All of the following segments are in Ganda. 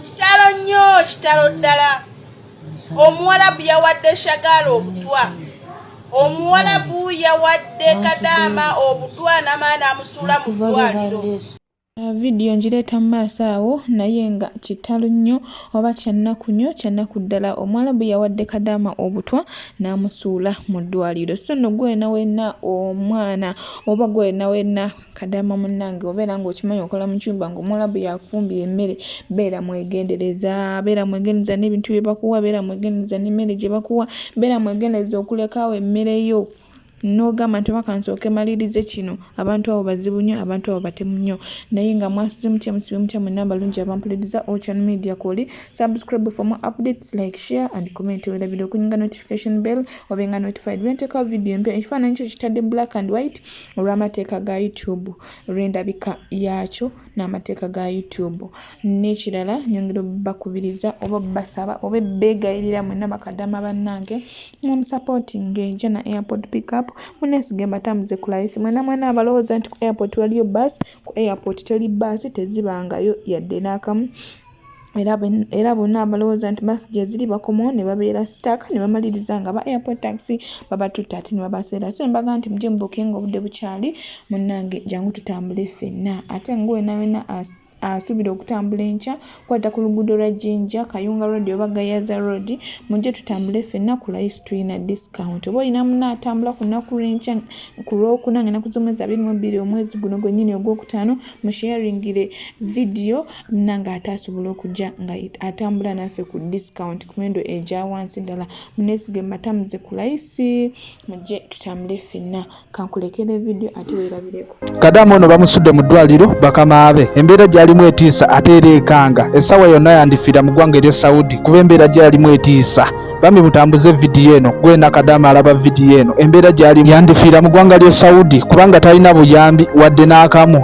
kitalo nnyo kitalo ddala omuwalabu yawadde shagaala obutwa omuwalabu yawadde kadaama obutwa namaana amusuula mu ddwaliro Uh, vidiyo ngireeta mu maaso awo naye nga kitalo nnyo oba kyannaku nnyo kyannaku ddala omuwalabu yawadde kadaama obutwa n'amusuula mu ddwaliro so nno gwena wenna omwana oba gwena wenna Kadama munnange obeera ng'okimanyi okola mu kyumba ng'omuwalabu yakufumbira emmere beera mwegendereza beera mwegendereza n'ebintu bye bakuwa beera mwegendereza n'emmere gye bakuwa beera mwegendereza okulekaawo emmere yo n'ogamba nti obaka nsooke malirize kino abantu abo bazibu nnyo abantu abo batemu nnyo naye nga mwasuze mutya musibe mutya mu namba lungi abampuliriza ocean media kwoli subscribe for more updates like share and comment werabira okunyinga notification bell obenga notified bwenteekawo video empya ekifaananyi kyo kitadde black and white olw'amateeka ga youtube olw'endabika yaakyo n'amateeka ga youtube n'ekirala nyongera obakubiriza oba obbasaba oba ebbeegayirira mwena bakadama bannange mwamusapootinga eja na airport pickup munesiga embatambuze ku layisi mwena mwena abalowooza nti ku airport waliyo baasi ku airport teri baasi tezibangayo yadde n'akamu era bonna abalowooza nti basi gyeziri bakomawo ne babeera sitaaka ne bamaliriza nga ba airport taxi babatutta ate ne babaseera so embaga nti mujje mubuke nga obudde bukyali munnange jangu tutambule ffenna ate nga wena wena asuubira okutambula enkya kwata ku luguudo lwa jinja kayunga road oba gayaza road mujje tutambule ffenna ku lice tulina discount oba olina muna atambula ku lunaku lwenkya ku lwokuna nga enaku z'omwezi abiri mu bbiri omwezi guno gwennyini ogwokutaano musharingire vidiyo munange ate asobola okujja nga atambula naffe ku discount ku miwendo egyawansi ddala munesige matamuze ku layisi mujje tutambule ffenna kankulekere vidiyo ate weerabireko kadamu ono bamusudde mu ddwaliro bakamaabe embeera gyalimu etiisa ate era ekanga essaawa yonna yandifiira mu ggwanga eryo saudi kuba embeera gyalimu etiisa bambi mutambuze vidiyo eno gwena kadamu alaba vidiyo eno embeera gyalimu yandifiira mu ggwanga ly'e saudi kubanga talina buyambi wadde n'akamu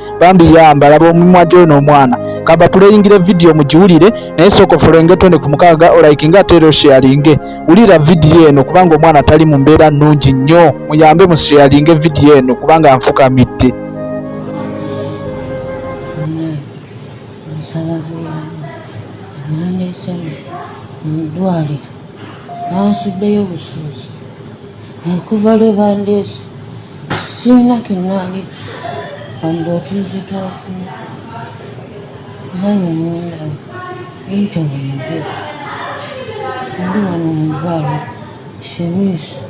bambi yamba laba omumwa gyono omwana kava puleyingire vidiyo mugiwulire naye sooka ofolowinge twende ku mukaaga olayikinga ate era osheyalinge wulira vidiyo eno kubanga omwana tali mu mbeera nnungi nnyo muyambe musheyalinge vidiyo eno kubanga nfukamidde mudwaliro nansuddeyo obusuuzi okuva lwe bandeese sirina kenali wadde otuuze twakuna nanye mundaba entewende ndi wano mu bbali shemiisi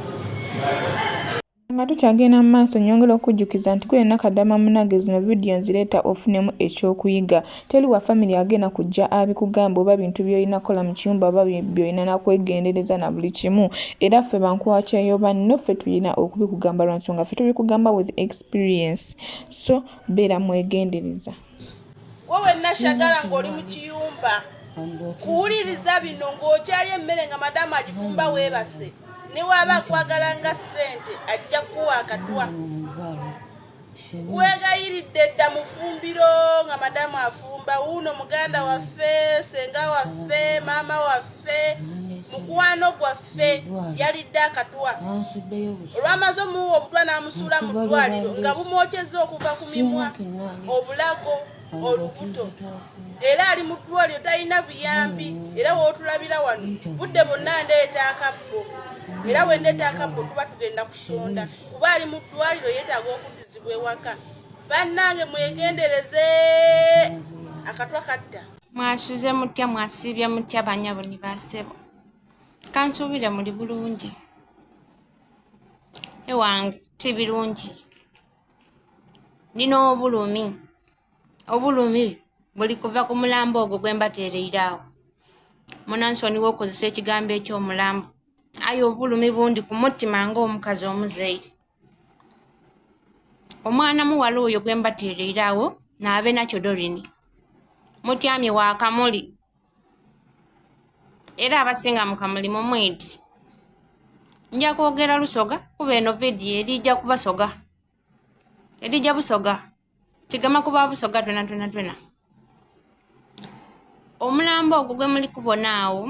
nga tukyagenda mu maaso nyongera okujjukiza nti kwena kadama munage zino vidiyo nzireeta ofunemu ekyokuyiga Teli wa family agenda kujja abikugamba oba bintu byoyina kola mukiyumba oba byoyina nakwegendereza nabuli kimu era ffe bankwakya yobanno ffe tuyina okubikugamba lwansonga ffe tubikugamba with experience so beera mwegendereza wowe nashagala ngoli mukiyumba kuwuliriza bino ng'okyali emmere nga madamu agifumba weebase ne waaba akwagala nga ssente ajja kuwa akatwa wegayiridde dda mufumbiro nga madamu afumba wuuno muganda waffe senga waffe maama waffe mukwano gwaffe yalidde akatwa olwamaze omuwa obutwa n'amusuula mu ddwaliro nga bumwokyezza okuva ku mimwa obulago olubuto era ali mu ddwaliro talina buyambi era wootulabira wano budde bonna ndeeta akabbo era wendeeta akabbo tuba tugenda kusonda kuba ali mu ddwaliro yeetaaga okuddizibwa ewaka bannange mwegendereze akatwa kadda mwasuze mutya mwasiibye mutya banyabo ni basebo kansuubire muli bulungi ewange ti birungi nina obulumi obulumi buli kuva ku mulambo ogwo gwe mbateereiraawo munansoniwa okozesa ekigambo eky'omulambo aye obulumi bundi ku mutima ng'omukazi omuzeeyi omwana muwala oyo gwe mbateereirawo naabe nakyo dorini mutyamye wa kamuli era abasinga mu kamuli mu mwedi nja kwogera lusoga kuba eno vidiyo erijja kubasoga erijja busoga kigama kuba busoga twena twena twena omulambo ogwo gwe muli kubona awo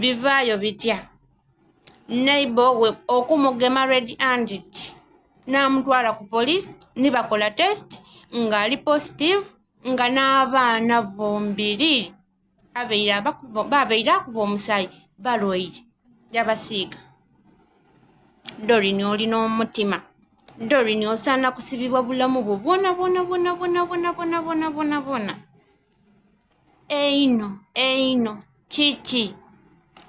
bivaayo bitya neighbor we okumugema red handed n'amutwala ku police nibakola test ng'ali positive nga n'abaana bombiri babeire akuba omusaayi balwaire yabasiiga dorini oli n'omutima dorini osaana kusibibwa bulamu bwo bwona bwona bwona bwona bwona bwona bwona bwona bwona eino eino kiki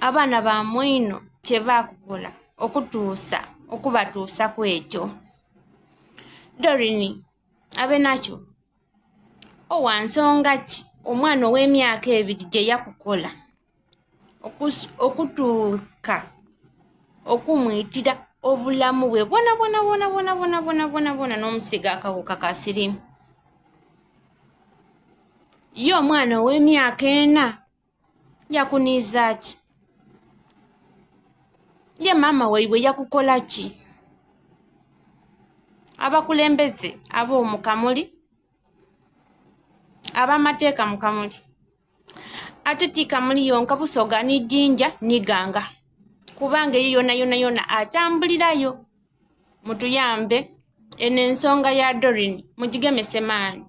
abaana ba mwino kye baakukola okutuusa okubatuusa ku ekyo dorini abe nakyo owa nsonga ki omwana ow'emyaka ebiri gye yakukola okutuuka okumuyitira obulamu bwe bwona bwona bwona bwona bwona bwona bwona bwona n'omusiga akawuka ka sirimu ye omwana ow'emyaka ena yakuniiza ki ye maama waibwe yakukola ki abakulembeze ab'omukamuli abamateeka mukamuli ate ti kamuli yonka busoga ni jinja ni ganga kubanga eyo yona yona yona atambulirayo mutuyambe eno ensonga ya dorin mugigemese maani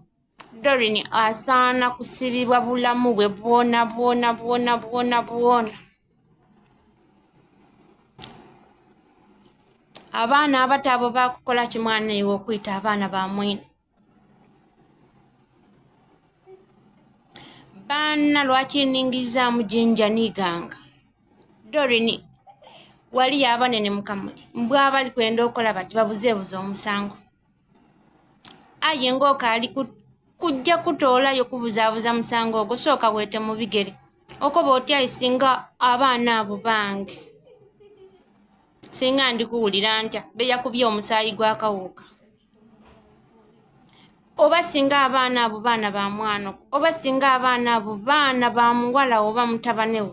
Dorin asaana kusibibwa bulamu bwe bwona bwona bwona bwona bwona. Abaana abato abo bakukola ki mwana iwe okuyita abaana ba mwene? Baana lwaki ningizaamu jinja niganga? Dorin waliyo abanene mukamuli mbwa abali kwenda okola bati babuzeebuze omusango. aye ng'okaali kujja kutoolayo kubuzaabuza musango ogwo sooka weete mu bigere okoba otya singa abaana abo bange singa ndikuwulira ntya beyakubye omusaayi gwakawuuka oba singa abaana abo baana ba mwana oba singa abaana abo baana ba muwala oba mutabanewo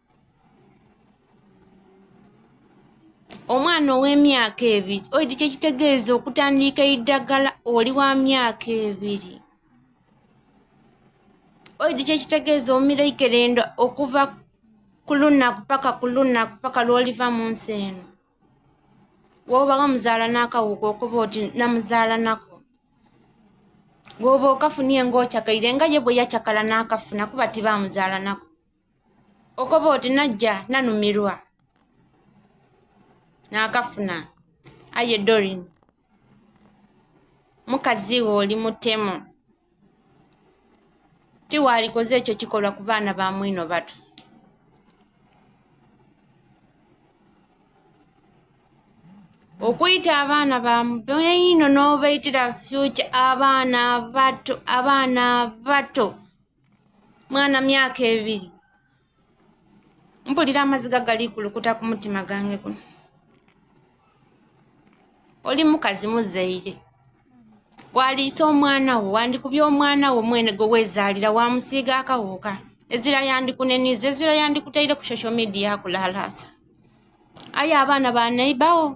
omwana ow'emyaka ebiri oidi kyekitegeeza okutandiika eddagala oli wa myaka ebiri oidi kyekitegeeza omira ikerendo okuva ku lunaku paka ku lunaku paka lwoliva mu nsi eno woba wamuzaala n'akawuka okuba oti namuzaala nako woba okafunie ngaochakaire nga ye bwe yachakala n'akafuna kuba tibamuzaala nako okoba oti najja nanumirwa nakafuna aye dorin mukazi we oli mutemu tiwaalikoze ekyo kikolwa ku baana ba mwino batu okuyita abaana bamubino n'obayitira future abaana bato abaana bato mwana myaka ebiri mpulira amaziga gali kulukuta ku mutima gange guno oli mukazi muzaire waliisa omwana wo wandikubya omwana wo mwene gwe wezaalira wamusiiga akawuuka ezira yandikuneniza ezira yandikutaire ku social media kulalaasa aye abaana banayibawo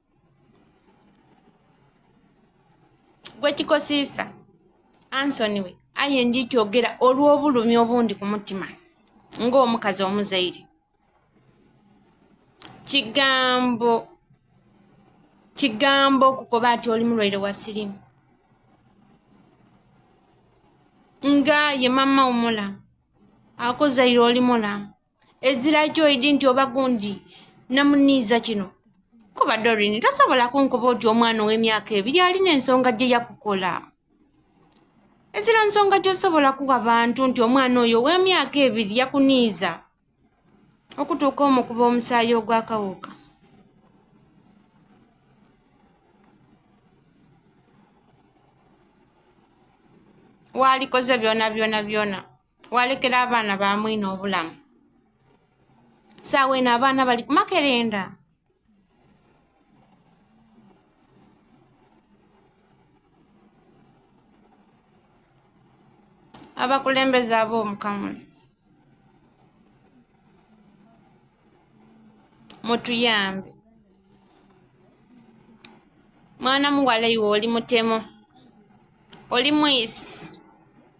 gwekikosiisa ansoni we aye ndi kyogera olw'obulumi obundi ku mutima ng'omukazi omuzaire kigambo kigambo okukoba ati oli mulwaire wa sirimu nga ye mama omulamu akuzaire oli mulamu ezira kyoidi nti oba gundi namuniiza kino kuba dorini tosobola kunkuba oti omwana ow'emyaka ebiri alina ensonga gye yakukola ezira nsonga gyosobola kuwa bantu nti omwana oyo ow'emyaka ebiri yakuniiza okutuuka omukuba omusaayi ogwakawuka waalikoze byona byona byona walekera abaana bamwine obulamu saawa eno abaana bali kumakerenda abakulembeze ab'omukamuli mutuyambe mwana muwala iwe oli mutemo oli mwisi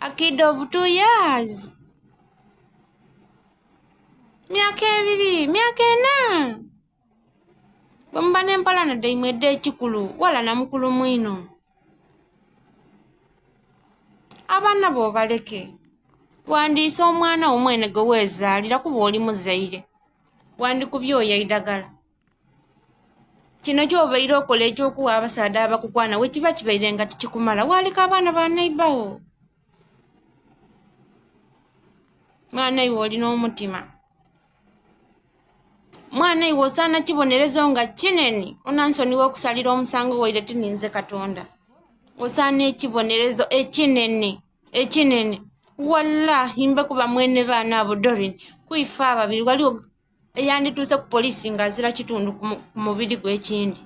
A kid of two years. Myaka ebiri, myaka ena. Bwemuba n'empalana daimwe edda ekikulu wala na mukulu mwino. Abaana bo baleke. Wandiisa omwana wo mwene gwe weezaalira kuba oli muzaire. Wandikubye oya eidagala. kino kyobaire okola ekyokuwa abasaadha abakukwana wekiba kibaire nga tikikumala waleka abaana banaibawo mwana iwe olina omutima mwana iwe osaana kibonerezo nga kinene onansoni wokusalira omusango waire tininze katonda osaana ekibonerezo ekinene ekinene wallahi mbe kuba mwene baana abo dorin kuife ababiri waliwo eyandituuse ku poliisi nga azira kitundu ku mubiri gw'ekindi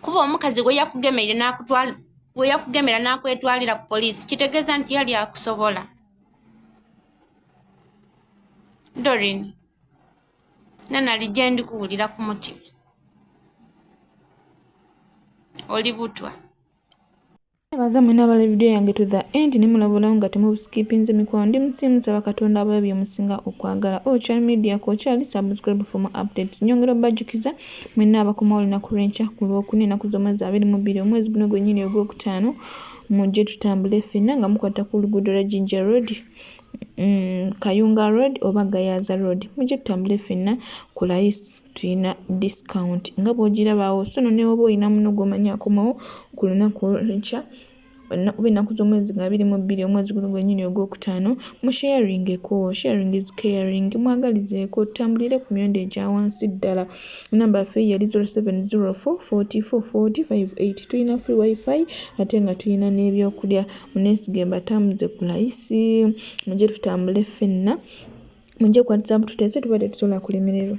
kuba omukazi gwe yakugemeire nakutwala gwe yakugemera n'akwetwalira ku poliisi kitegeeza nti yali akusobola dorin nanali gye ndi kuwulira ku mutima oli butwa Nebaza mwena abali video yange to the end nemulabulawo nga temubuskipinze mikwano ndi musi musaba katonda abayo byemusinga okwagala o oh, chal media kokyali subscribe for more updates nyongera obajukiza mwena abakomawo olunaku lwenkya ku lwokuna enaku z'omwezi abiri mu bbiri omwezi guno gwenyini ogwokutaano mujje tutambule fenna nga mukwata ku luguudo lwa jinja road Mm, kayunga road oba gayaza road mujje tutambule fenna ku layisi tulina discount nga bwogirabaawo sono newoba olina muno gwomanya akomawo ku lunaku olwenkya oba ennaku z'omwezi nga biri mu bbiri omwezi guno gwenyini ogwokutaano mu sharingeko sharing is caring mwagalizeeko tutambulire ku myondo egya wansi ddala enamba yaffe yali 07044445 tulina free wifi ate nga tulina n'ebyokulya munesige mbatambuze ku layisi mujje tutambule ffenna mujje kukwatisa mbu tutese tuba tetusobola kulemererwa